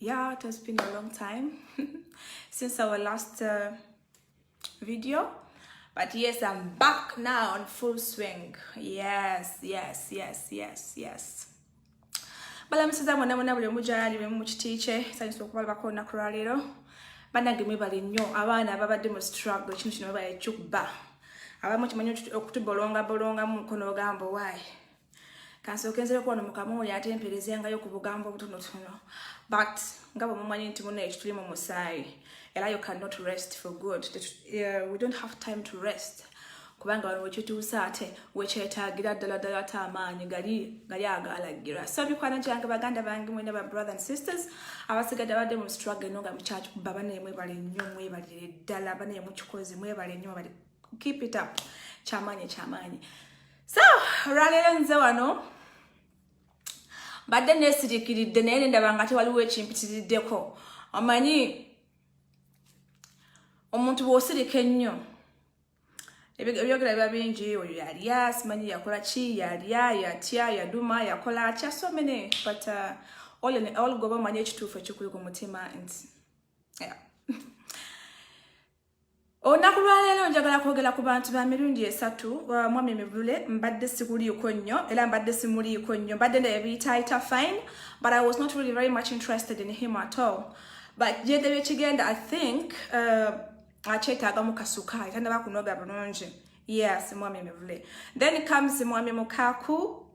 yeah it has been a long time since our last uh, video but yes i'm back now on full swing yes yes yes yes yes balamusiza mwena mwena buli omu gyali bwemu mu kiti kye sanyusa okubalabako olunaku lwaleero banange mwebale nnyo abaana ababadde mu struggle kino kino webale kyuba abamu kimanyi okutubolongabolongamu mukono ogamba owaayi kansokenzere kuwano mukama oyo ate mperezengayo ku bugambo obutonotono but nga bwe mumanyi nti muna ekituli mu musaayi era you cannot rest for good uh, we don't have time to rest kubanga wano wekituuse ate wekyetagira ddala ddala ate amaanyi gali gali agalagira so mikwano gyange baganda bange mwena ba brother and sisters abasigadde abadde mu struggle no nga mukyakikuba banaye mwebale nnyo mwebalire ddala banaye mukikozi mwebale nnyo mwebale keep it up kyamaanyi kyamaanyi so olwaleero nze wano mbadde neesirikiridde naye nendaba nga tewaliwo ekimpitiriddeko omanyi omuntu bw'osirika ennyo ebyogera biba bingi oyo yalya simanyi yakola ki yalya yatya yaduma yakola atya so many but uh, all in all goba omanyi ekituufu ekikuli ku mutima nti yeah. Olunaku lwaleero njagala kwogera ku bantu ba mirundi esatu uh, mwami mivule mbadde sikuliiko nnyo era mbadde simuliiko nnyo mbadde naye biyitaayita fine but i was not really very much interested in him at all but gyede byekigenda i think uh, akyetaagamu kasukaali tandaba kunoga bulungi yes mwami mivule then comes mwami mukaku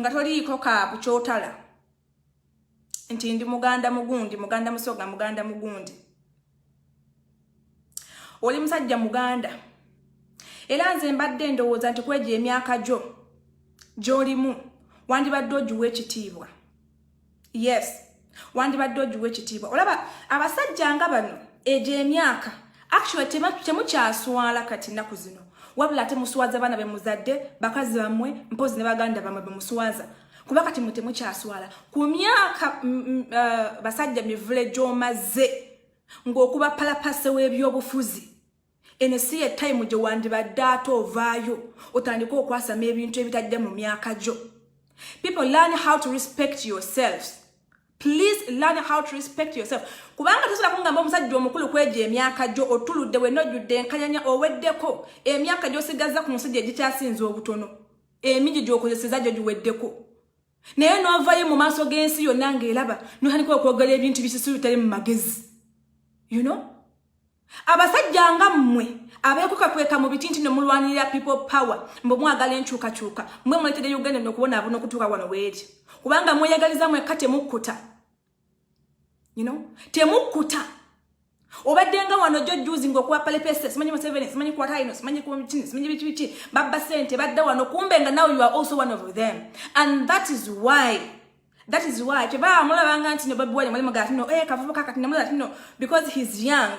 nga toliiko kaaku kyotala nti ndi muganda mugundi muganda musoga muganda mugundi oli musajja muganda era nze mbadde ndowooza nti kwegyo emyaka gyo gyolimu wandibadde ogiwa ekitiibwa yes wandibadde ogiwa ekitiibwa olaba abasajja nga bano egyo emyaka actually temukyaswala kati nnaku zino wabula ate muswaza baana be muzadde bakazi bammwe mpozi ne baganda bammwe be muswaza kuba kati mwe temukyaswala ku myaka uh, basajja mivule gy'omaze ng'okuba palapase w'ebyobufuzi eno si ye tayimu gye wandibadde ate ovaayo otandike okwasama ebintu ebitajja mu myaka gyo people learn how to respect yourselves please learn how to respect yourself kubanga tosobola kungamba omusajja omukulu kwejo emyaka gyo otuludde wena ojjudde enkanyanya oweddeko emyaka gyosigaza ku nsi gye gikyasinza obutono emingi gyokozeseza gyo giweddeko naye novayo mu maaso g'ensi yonna ng'eraba notandika okwogera ebintu bisusu bitali mu magezi you know abasajja nga mmwe abeekukakweka mu biti nti ne mulwanirira people power mbu mwagala enkyukakyuka mwe muleetedde uganda nokubona abona okutuuka wano weeri kubanga mweyagaliza mwekka temukkuta you know temukuta obadde nga wano jo juzi nga okuwa palepese simanyi museveni simanyi kwa rhino simanyi kuchini simanyi biki biki babba sente badda wano kumbe nga now you are also one of them and that is why that is why kyebaa mulabanga nti no babi wali mwali mugati no eh kavubuka kati namulati no because he's young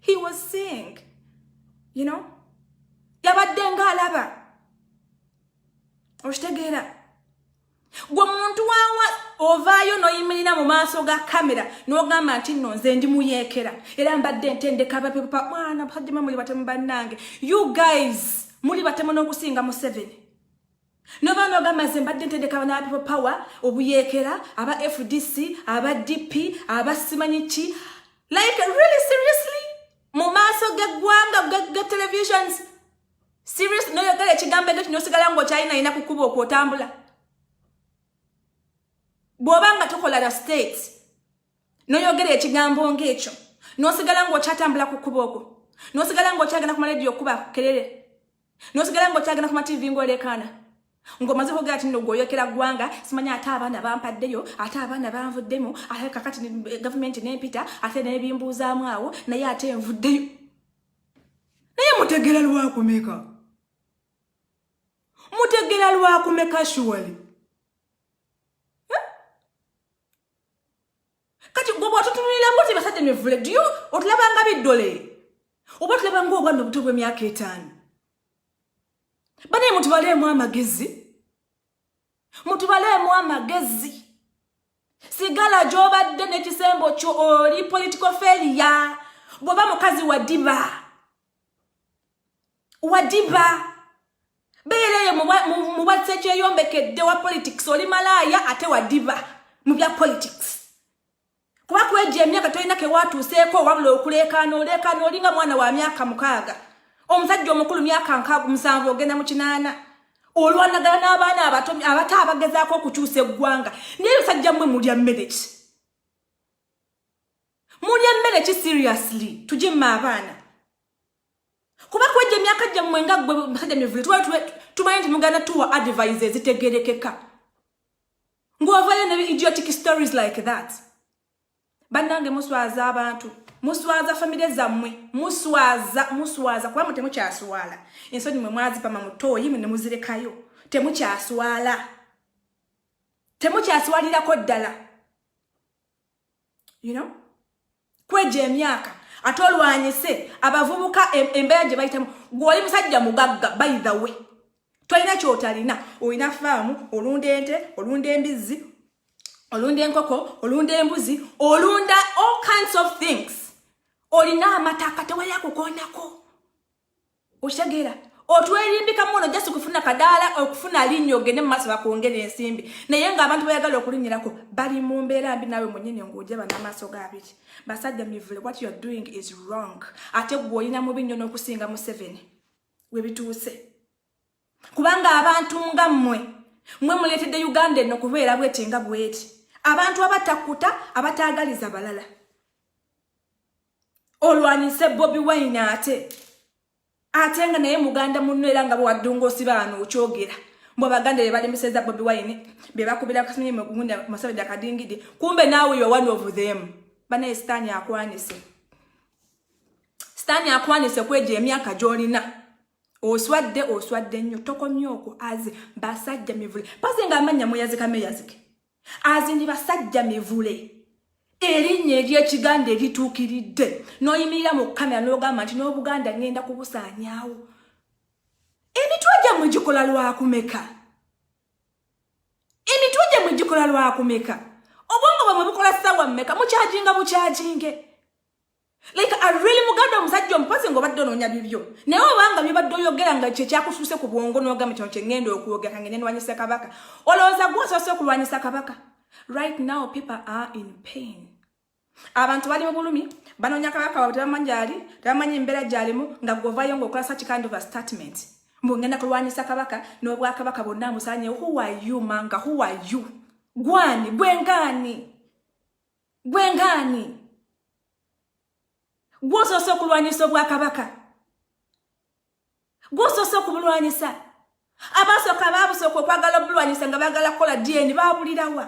he was seeing you know yabadde ng'alaba okitegeera gwe muntu wawa ovaayo noyimirira mu maaso ga kamera nogamba nti no nze ndi muyeekera era mbadde ntendeka bapepa mwana hajima muli batemu bannange you guys muli batemu n'okusinga museveni nobaana ogamba nze mbadde ntendeka bana people power obuyeekera aba fdc aba dp aba simanyi ki like really seriously mu maaso geggwanga ge televisions serious noyogera ekigambo ekyo kinosigala ngaokyalinaina kukuba okwotambula bwoba nga tokola la state noyogera ekigambo ngaekyo nosigala ngaokyatambula kukuba okwo nosigala ngaokyagenda kumala ediyo okuba kukerere nosigala nga okyagenda kuma tv ngaolekaana ngomaze kogera ati no gwoyokera ggwanga simanya ate abaana bampaddeyo ate abaana banvuddemu ate kakati eh, gavumenti nempita ate nebimbuuzaamu awo naye ate envuddeyo naye mutegera lwakumeka mutegera lwakumeka shuwali kati gwe bwatutunulira bwoti basajja mivule diyo otulabanga biddole oba otulabanga obwana obuto bw'emyaka etaano banaye mutubaleemu amagezi mutubaleemu amagezi sigala gy'obadde n'ekisembo kyo oli political failure bw'oba mukazi wa diba wadiba beera eyo mu bwasekyeyombekedde wa politics oli malaaya ate wadiba mu bya politics kuba kwejo emyaka tolina kewatuuseeko wabula okuleekaana oleekaana olinga mwana wa myaka mukaaga omusajja omukulu myaka nkaaga musanvu ogenda mu kinaana olwanagala n'abaana abato abato abagezaako okukyusa eggwanga naye basajja mmwe mulya mmere ki mulya mmere ki seriously tugimme abaana kuba kwegyo emyaka gyammwe nga gwe musajja mivule tumanyi nti muganda tuwa advise ezitegerekeka ng'ovayo ne idiotic stories like that bannange muswaza abantu muswaza famire zammwe muswaza muswaza kuba mu temukyaswala ensonyi mwe mwazipama mutooyi mu ne muzirekayo temukyaswala temukyaswalirako ddala you know kweja emyaka ate olwanyise abavubuka embeera gye bayitamu gwoli musajja mugagga by the way tolina kyotalina olina faamu olunda ente olunda embizzi olunda enkoko olunda embuzi olunda all kinds of things olina amataka tewali akukoonako okitegera otwerimbika muno just kufuna kadaala okufuna linnya ogende mumaaso bakwongera ensimbi naye nga abantu bayagala okulinyirako bali mu mbeera mbi naawe munyini nguuja bana amaaso ga biki basajja mivule what youare doing is wrong ate gwe olina mubi nnyo n'okusinga museveni webituuse kubanga abantu nga mmwe mwe muleetedde uganda eno kubeera bweti nga bweti abantu abatakuta abataagaliza balala olwanyise bobi wine ate ate nga naye muganda munno era nga bwewaddunga osibaano okyogera mbu abaganda bebalemeseza bobi wine bebakubira kasinye mugunda masabeda kadingidi kumbe naawe yo one of them banaye sitaani akwanise sitaani akwanise kwejo emyaka gyolina oswadde oswadde nnyo tokomye okwo aze basajja mivule paze nga amannya mweyazika meyazike azini basajja mivule erinnya ery'ekiganda erituukiridde n'oyimirira mu kamera n'ogamba nti n'obuganda ngenda kubusaanyaawo emitwe gyammwe gikola lwakumeka emitwe gyammwe gikola lwakumeka obwongo bwamwe bukola ssaawa mmeka mukyaginga bukyaginge like a really muganda omusajja omupazi ng'obadde onoonya bibyo naye obanga byobadde oyogera nga kye kyakusuuse ku bwongo n'ogamba kino kye ŋŋenda okwogera kange nenwanyisa kabaka olowooza gwe osoose okulwanyisa kabaka right now people are in pain abantu bali mu bulumi banoonya kabaka wabwe tebamanyi gyali tebamanyi embeera gyalimu nga gwovayo ng'okola such kind of a statement mbu ŋŋenda kulwanyisa kabaka n'obwakabaka bonna amusanyewo who are you manga who are you gwani gwengaani gwe ngaani gwosoose okulwanyisa obwakabaka gwosoose okubulwanyisa abasooka baabusooka okwagala obulwanyisa nga bagala kukola dn baabulirawa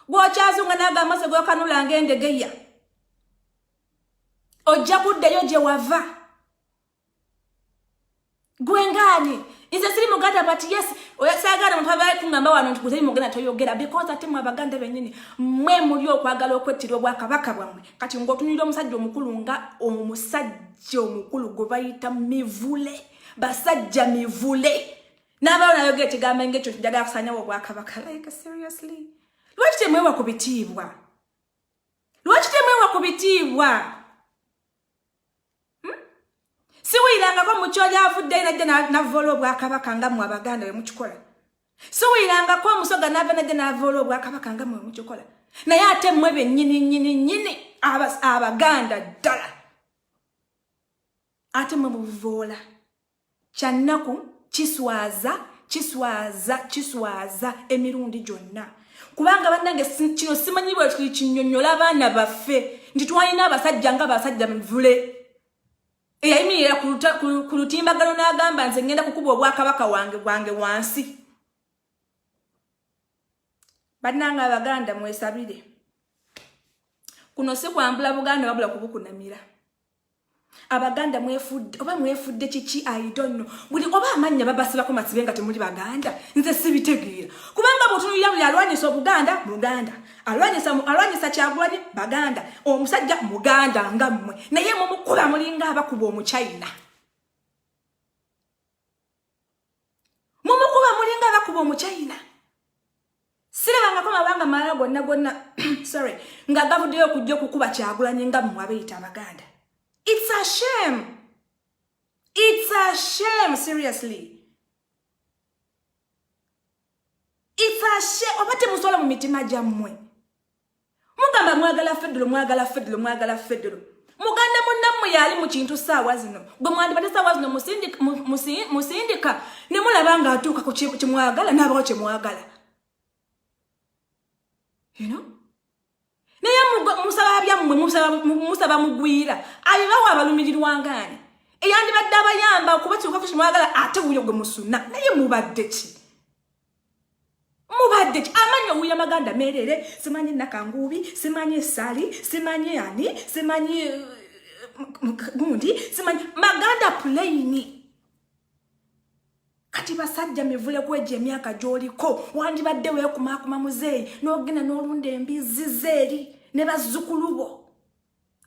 gwokyazunga naaga amaso gwekanulanga endegeya ojja kuddayo gye wava gwe ngaani nze siri muganda but yes oyasagala omuntu abaye kuŋamba wano nti guteri muganda toyogera because ate mwe abaganda benyini mwe muli okwagala okwettira obwakabaka bwammwe kati ngaotunulira omusajja omukulu nga omusajja omukulu gwe bayita mivule basajja mivule n'abawo nayogera ekigambo ngaekyo njagala kusanyawo obwakabaka like seriously lwaki temwewa ku bitiibwa lwaki temwewa ku bitiibwa siwulirangako mukyo lyavuddeyo najja navoola obwakabaka nga mwe abaganda we mukikola siwulirangako omusoga nava najja navoola obwakabaka nga mwe mukikola naye ate mwe benyini nyini nyini abaganda ddala ate mwe mubuvoola Kyannaku, kiswaza, kiswaza, kiswaza emirundi gyonna. Kubanga bannange kino simanyi bwekiri kinyonyola abaana baffe nti twalina abasajja nga basajja mivule eyayimirira ku lutimbagano n'agamba nze ngenda kukuba obwakabaka wange bwange wansi. Bannange Abaganda mwesabire. Kuno si kwambula Buganda wabula kubukunamira. abaganda mwefudde oba mwefudde kiki aidonno buli oba amannya babasibako masibe nga temuli baganda nze sibitegeera kubanga bwotunulira buli alwanyisa obuganda muganda alwanyisa alwanyisa kyagulanye baganda omusajja muganda nga mmwe naye mumukula mulinga abakuba omuchina mumukuba mulinga abakuba omuchina sirabangako mabanga mala gonna gonna sorry nga gavuddeyo okujja okukuba kyagulanyi nga mmwe abeyita abaganda its a shame its a shame seriously its a shame oba temusobola mu mitima gyammwe mugamba mwagala federo mwagala federo mwagala federo muganda munnammwe yaali mu kintu saawa zino gwe mwandibadde saawa zino musindika ne mulaba ng'atuuka ku kimwagala n'abawo kye mwagala naye musaba byammwe musaba mugwira abibawo abalumirirwangaani eyandibadde abayamba okubatuuka ku kimwagala ate wuyo gwe musuna naye mubadde ki mubadde ki amanyi owuya maganda merere simanyi nakanguubi simanyi esali simanyi ani simanyi eh, gundi simanyi maganda pulaini kati basajja mivule kwejo emyaka gyoliko wandibadde wekumakuma muzeeyi nogenda nolunda embizzi zeeri ne bazzukulu bo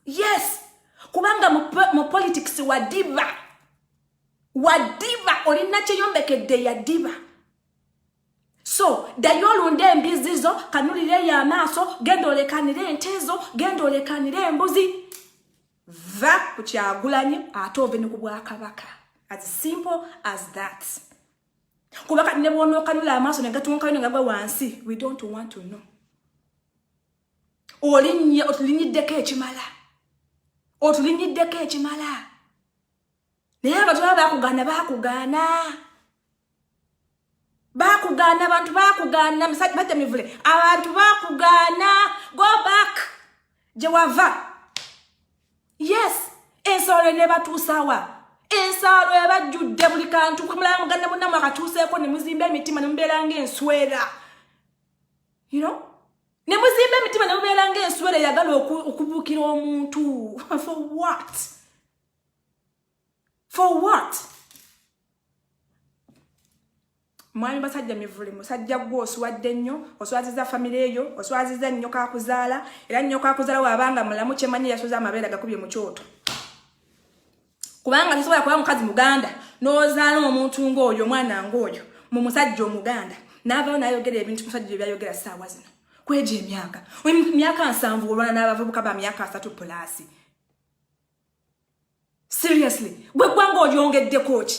yes kubanga mu politics wadiba wadiba olina kyeyombekedde yadiba so dayo olunde embizi zo kanulireyo amaaso genda olekanire ente zo genda olekanire embuzi va ku kyagulanyi ate ove ne ku bwakabaka as simple as that kuba kati ne bwonookanula amaaso negatuunkayo negagwa wansi we don't want to know olinnye otulinyiddeko ekimala otulinyiddeko ekimala naye abantu baba bakugaana bakugaana bakugaana abantu bakugaana musajja bajja mivule abantu bakugaana go back gye wava yes ensolo enebatuusawa ensalo ebajjudde buli kantu kumulala muganda munamu akatuuseeko ne muzimba emitima ne mubeera ngaenswera you know ne muzimba emitima ne mubeera ngaenswera eyagala okubuukira omuntu for what for what mwami basajja mivule musajja gwe oswadde nnyo oswaziza famire eyo oswaziza nnyo kakuzaala era nnyo kakuzaala waabanga mulamu kyemanyi yasoza amabeera gakubye mu kyoto kubanga tosobola kuba mukazi muganda n'ozaala omuntu ng'oyo omwana ng'oyo mu musajja omuganda n'avayo n'ayogera ebintu musajja bye byayogera ssaawa zino kwegyo emyaka myaka nsanvu olwana n'abavubuka ba myaka asatu pulaasi seriously gwe ggwanga olyongeddeko ki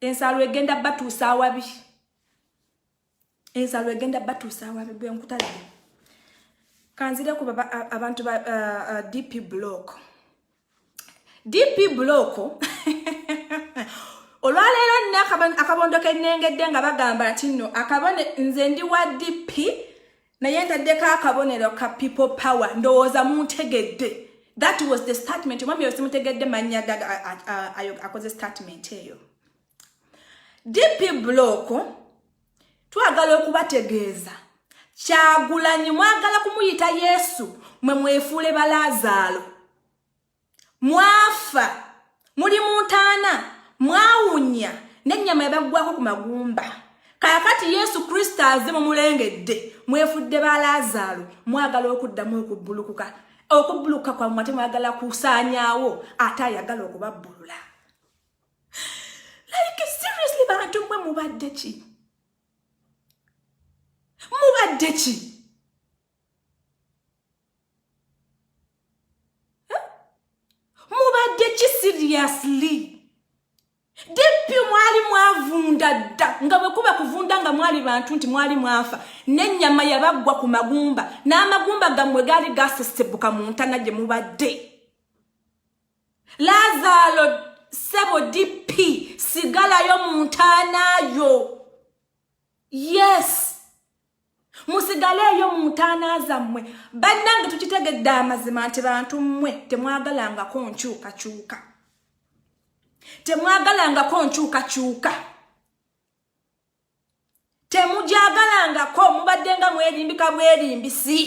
ensalo egenda batuusa awabi ensalo egenda batuusa awabi gwe nkutalaba kanzire ku abantu ba uh, uh, dp block dp block olwaleero nne akabondo kenengedde nga bagamba nti no akabone nze ndi wa dp naye ntaddeko akabonero ka people power ndowooza muntegedde that was the statement omwami oyo simutegedde mannya gaga akoze statement eyo dp block twagala okubategeeza kyagulanyi mwagala kumuyita yesu mwe mwefuule balaazaalo mwafa muli mu ntaana mwawunya n'ennyama yabaggwako ku magumba kaakati yesu kristo aze mumulengedde mwefudde ba laazaalo mwagala okuddamu okubbulukuka okubbulukuka kwammwe ate mwagala kusaanyaawo ate ayagala okubabbulula like seriously bantu mwe mubadde ki mubadde ki mubadde ki seriously dipi mwali mwavunda dda nga bwe kuba kuvunda nga mwali bantu nti mwali mwafa n'ennyama yabaggwa ku magumba n'amagumba gammwe gaali gasesebbuka mu ntana gye mubadde lazaalo sebo dipi sigalayo mu ntaanaayo yes musigaleeyo mu ntaana zammwe bannange tukitegedde amazima nti bantu mmwe temwagalangako nkyukakyuka temwagalangako nkyukakyuka temugyagalangako mubadde nga mwerimbika bwerimbisi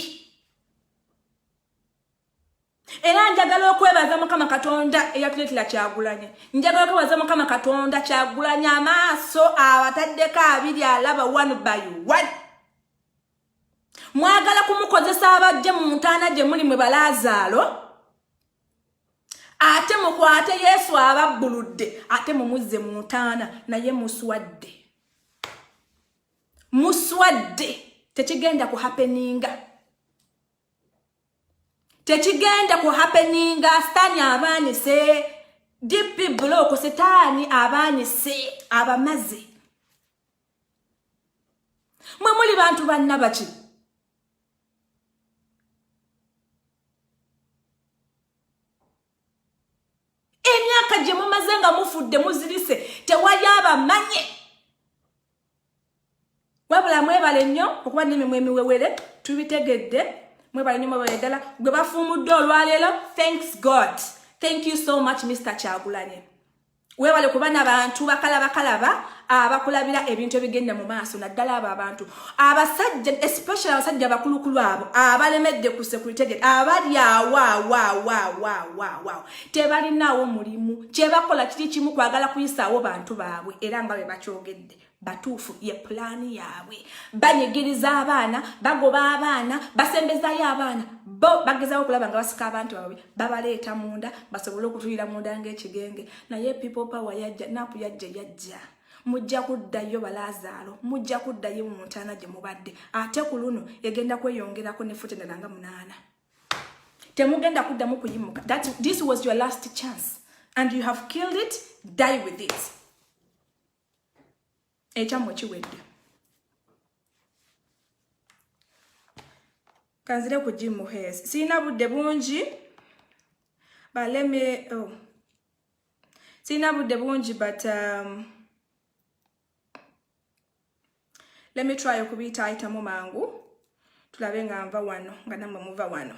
era njagala okwebaza mukama katonda eyatuletera kyagulanye njagala okwebaza mukama katonda kyagulanye amaaso abataddeko abiri alaba one by one mwagala kumukozesa abajje mu ntaana gye muli mwe balaazaalo ate mukwate yesu ababbuludde ate mumuzze mu ntaana naye muswadde muswadde tekigenda kuhapeninga tekigenda ku happeninga sitaani abaanise dp bulooku sitaani abaanise abamaze mwe muli bantu bannabaki emyaka gye mumaze nga mufudde muzirise tewali abamanye wabula mwebale nnyo okuba nemimwe emiwewere tubitegedde mwebale nnyo mwebale ddala gwe bafuumudde olwaleero thanks god thank you so much mr kyagulanye webale kuba nabantu bakalabakalaba abakulabira ebintu ebigenda mu maaso naddala abo abantu abasajja especially abasajja abakulukulu abo abalemedde ku security gate abali awawawawawawao tebalinaawo mulimu kyebakola kiri kimu kwagala kuyisaawo bantu baabwe era nga bwe bakyogedde batuufu ye pulaani yaabwe banyigiriza abaana bagoba abaana basembezayo abaana bo bagezawo okulaba nga basika abantu baabwe babaleeta munda basobole okutulira munda ngaekigenge naye people power yajja napu yajja yajja mujja kuddayo balaazaalo mujja kuddayo mu ntaana gye mubadde ate ku luno egenda kweyongerako nefutenera nga munaana temugenda kuddamu kuyimuka that this was your last chance and you have killed it die with it ekyammwe kiwedde kanzire ku jimu hes sirina budde bungi baleme oh. sirina budde bungi but um, let me try okubiyita ayitamu mangu tulabe nga nva wano nga namwe muva wano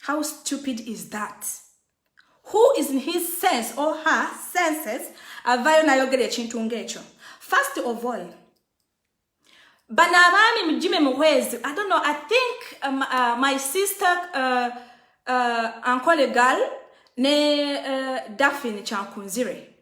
How stupid is that? Who is in his sense or her senses avayo nayogera ekintu ng'ekyo? First of all, bano abaami mujime muhwezi i don't know i think um, uh, my sister uh, uh, ankole gal ne uh, daphine kyankunzire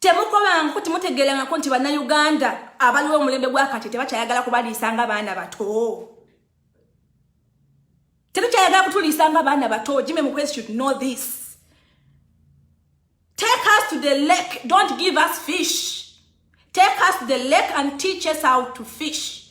temukobangaku temutegerangako nti bannayuganda abaliwo omulembe gwakati tebakyayagala kubaliisa nga baana bato tetukyayagala kutuliisa nga baana bato jime mukwezi should know this take us to the lake don't give us fish take us to the lake and teach us how to fish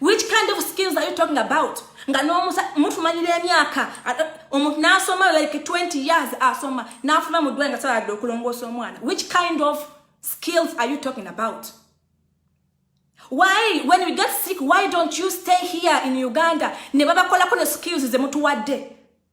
which kind of skills are you talking about nga nomusa mutumanyira emyaka omuntu nasoma like 20 years asoma nafuna mudwa nga saladde okulongoosa omwana which kind of skills are you talking about why when we get sick why don't you stay here in uganda ne babakolako ne skills zemutuwadde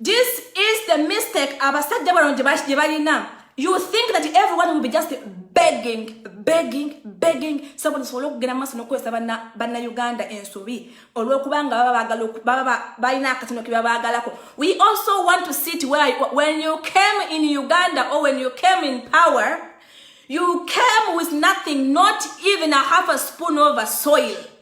This is the mistake abasajja bano gye balina you think that everyone will be just begging begging begging so buli sobola okugenda maaso n'okukozesa bannayuganda ensobi olw'okubanga baba bagala baba balina akatino ke babaagalako we also want to sit where when you came in uganda or when you came in power you came with nothing not even a half a spoon of a soil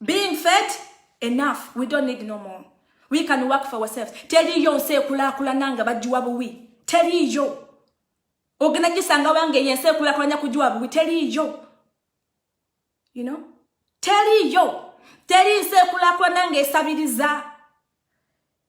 being fed enough we don't need no more we can work for ourselves teriyo nsi ekulakulana nga bagiwa buwi teriyo ogenda gisanga wange eyo ensi ekulakulanya kugiwa buwi teriyo you know teriyo teri nsi ekulakulana nga esabiriza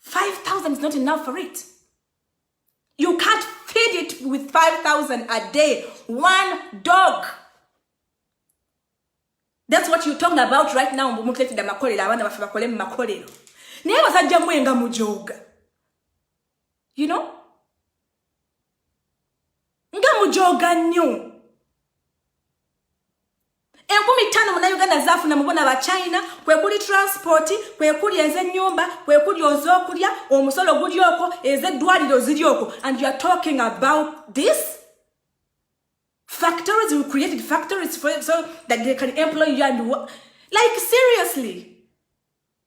5000 is not enough for it you can't feed it with 5000 a day one dog that's what you talking about right now mbu mutuletedde amakolero abaana baffe bakole mu makolero naye basajja mwe nga mujooga you know nga mujoga nnyo enkumi ttaano munauganda zaafuna mubona ba china kwekuli transport kwekuli ezenyumba kwekuli ozokulya omusolo guli oko ezeddwaliro ziri oko and youare talking about this factories we created factories for, so that they can employ you and like seriously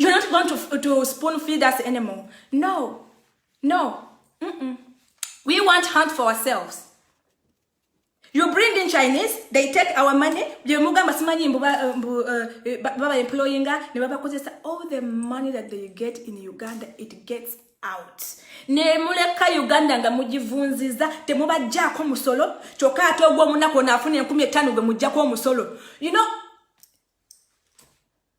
You're not going to, to spoon feed us anymore. No, no. Mm -mm. We want hunt for ourselves. You bring in Chinese, they take our money. They muga masimani mbuba uh, mbu uh, eh, baba employing her. Ne baba kozesa all the money that they get in Uganda, it gets out. Ne muleka Uganda nga mujivunziza temuba jako musolo. Choka ato gwa munako na afuni ya kumi etanu gwa mujako musolo. You know,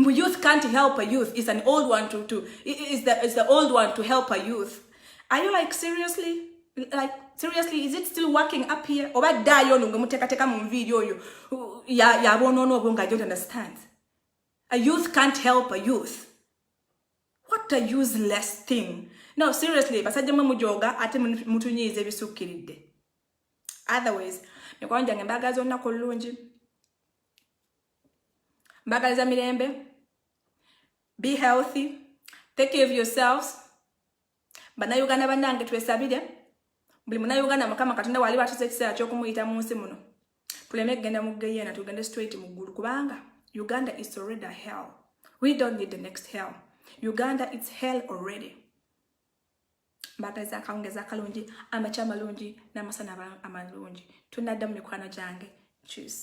Mbu youth can't help a youth is an old one to, to is the, is the old one to help a youth. Are you like seriously? Like seriously is it still working up here? Oba dayo nungu muteka teka mu nviiri oyo ya ya bono no bonga I don't understand. A youth can't help a youth. What a useless thing. No seriously basajja mwe mujoga ate mutunyize ebisukkiridde. Otherwise, mikwano gyange mbaagala zonna ku lulungi mbagaliza mirembe be healthy take care of yourselves bannayuganda bannange twesabire buli munayuganda mukama katonda wali batuza ekiseera kyokumuyita mu nsi muno tuleme kugenda mu geyena tugende straight mu ggulu kubanga uganda is already hell we don't need the next hell uganda its hell already mbagaliza akawungezi akalungi amakya amalungi n'amasana amalungi tunaddamu mikwano gyange juice